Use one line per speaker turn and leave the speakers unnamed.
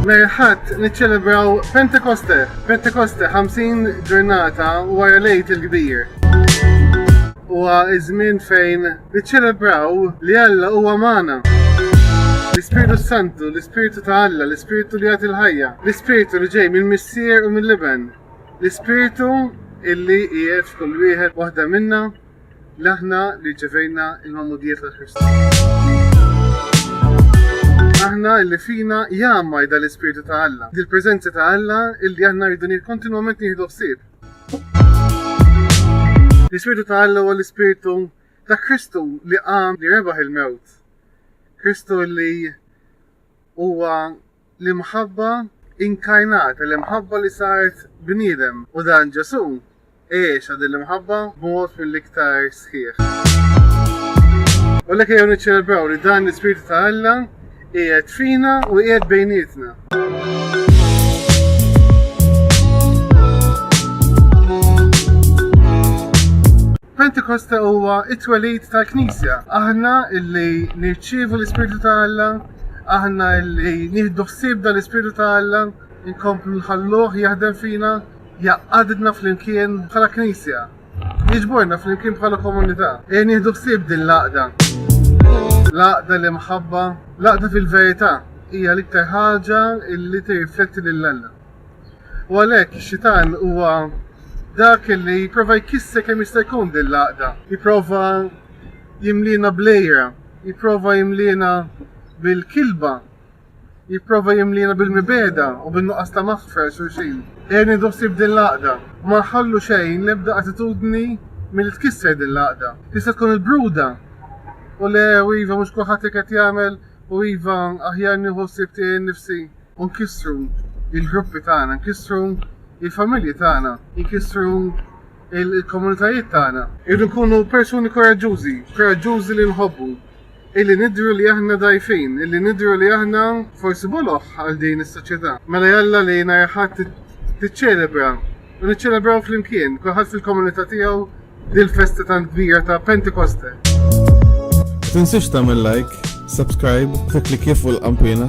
Merħat niċċelebraw Pentekoste, Pentekoste 50 ġurnata wara lejt il-kbir. Huwa iż-żmien fejn Niċċelebraw li Alla huwa magħna. L-Ispirtu Santu, l-Ispirtu ta' Alla, l-Ispirtu li jagħti l-ħajja, l-Ispirtu li ġej mill-Missier u mill-Iben, l-Ispirtu illi qiegħed f'kull wieħed waħda minna li aħna li ġevejna il-mamudijiet ta' Kristu. Aħna illi fina jgħammaj dal-Ispirtu ta' Alla, dil-preżenza ta' Alla illi aħna rridu kontinwament nieħdu ħsieb. L-Ispirtu ta' Alla huwa l-Ispirtu ta' Kristu li qam li rebaħ il-mewt. Kristu li huwa l-imħabba inkarnat, l-imħabba li saret bniedem. U dan Ġesu għexa din l-imħabba b'mod mill-iktar sħiħ. U l-ek jew niċċelebraw li dan l-Ispirtu ta' Alla qiegħed fina u qiegħed bejnietna. Pentekosta huwa it-twelid tal-Knisja. Aħna illi nirċievu l-Ispirtu ta' Alla, aħna illi nieħdu ħsieb dal-Ispirtu ta' Alla, inkomplu nħalluh jaħdem fina, jaqadna flimkien bħala Knisja. Jiġborna flimkien bħala komunità. Ejja nieħdu ħsieb din l-għaqda. L-għaqda li mħabba, l-għaqda fil-verità hija l-iktar ħaġa li tirrifletti lil Alla. U għalhekk ix-xitan huwa dak li jipprova jkisser kemm jista' jkun din l-għaqda, jipprova jimlina blejra, jipprova jimlina bil-kilba, jipprova jimliena bil-mibegħda u bin-nuqqas ta' maħfra għal xulxin. Ejja nieħdu ħsieb din l-għaqda u ma nħallu xejn l-ebda attitudni milli tkisser din l-għaqda. Tista' tkun il-bruda u le u iva mhux kulħadd hekk qed jagħmel u iva aħjar nieħu ħsieb tiegħi nnifsi u nkissru l-gruppi tagħna, nkissru l-familji tagħna, nkissru il-komunitajiet tagħna. Irridu nkunu persuni koraġġużi, koraġġużi li nħobbu. Illi nidhru li aħna dgħajfin, illi nidhru li aħna forsi boloh għal din is-soċjetà. Mela jalla li nhar il-Ħadd tiċċelebra u niċċelebraw flimkien, kulħadd fil-komunità tiegħu, dil-festa tant kbira ta' Pentekoste.
Ma tinsiex tagħmel like, subscribe, tikklikkja fuq il-qanpiena.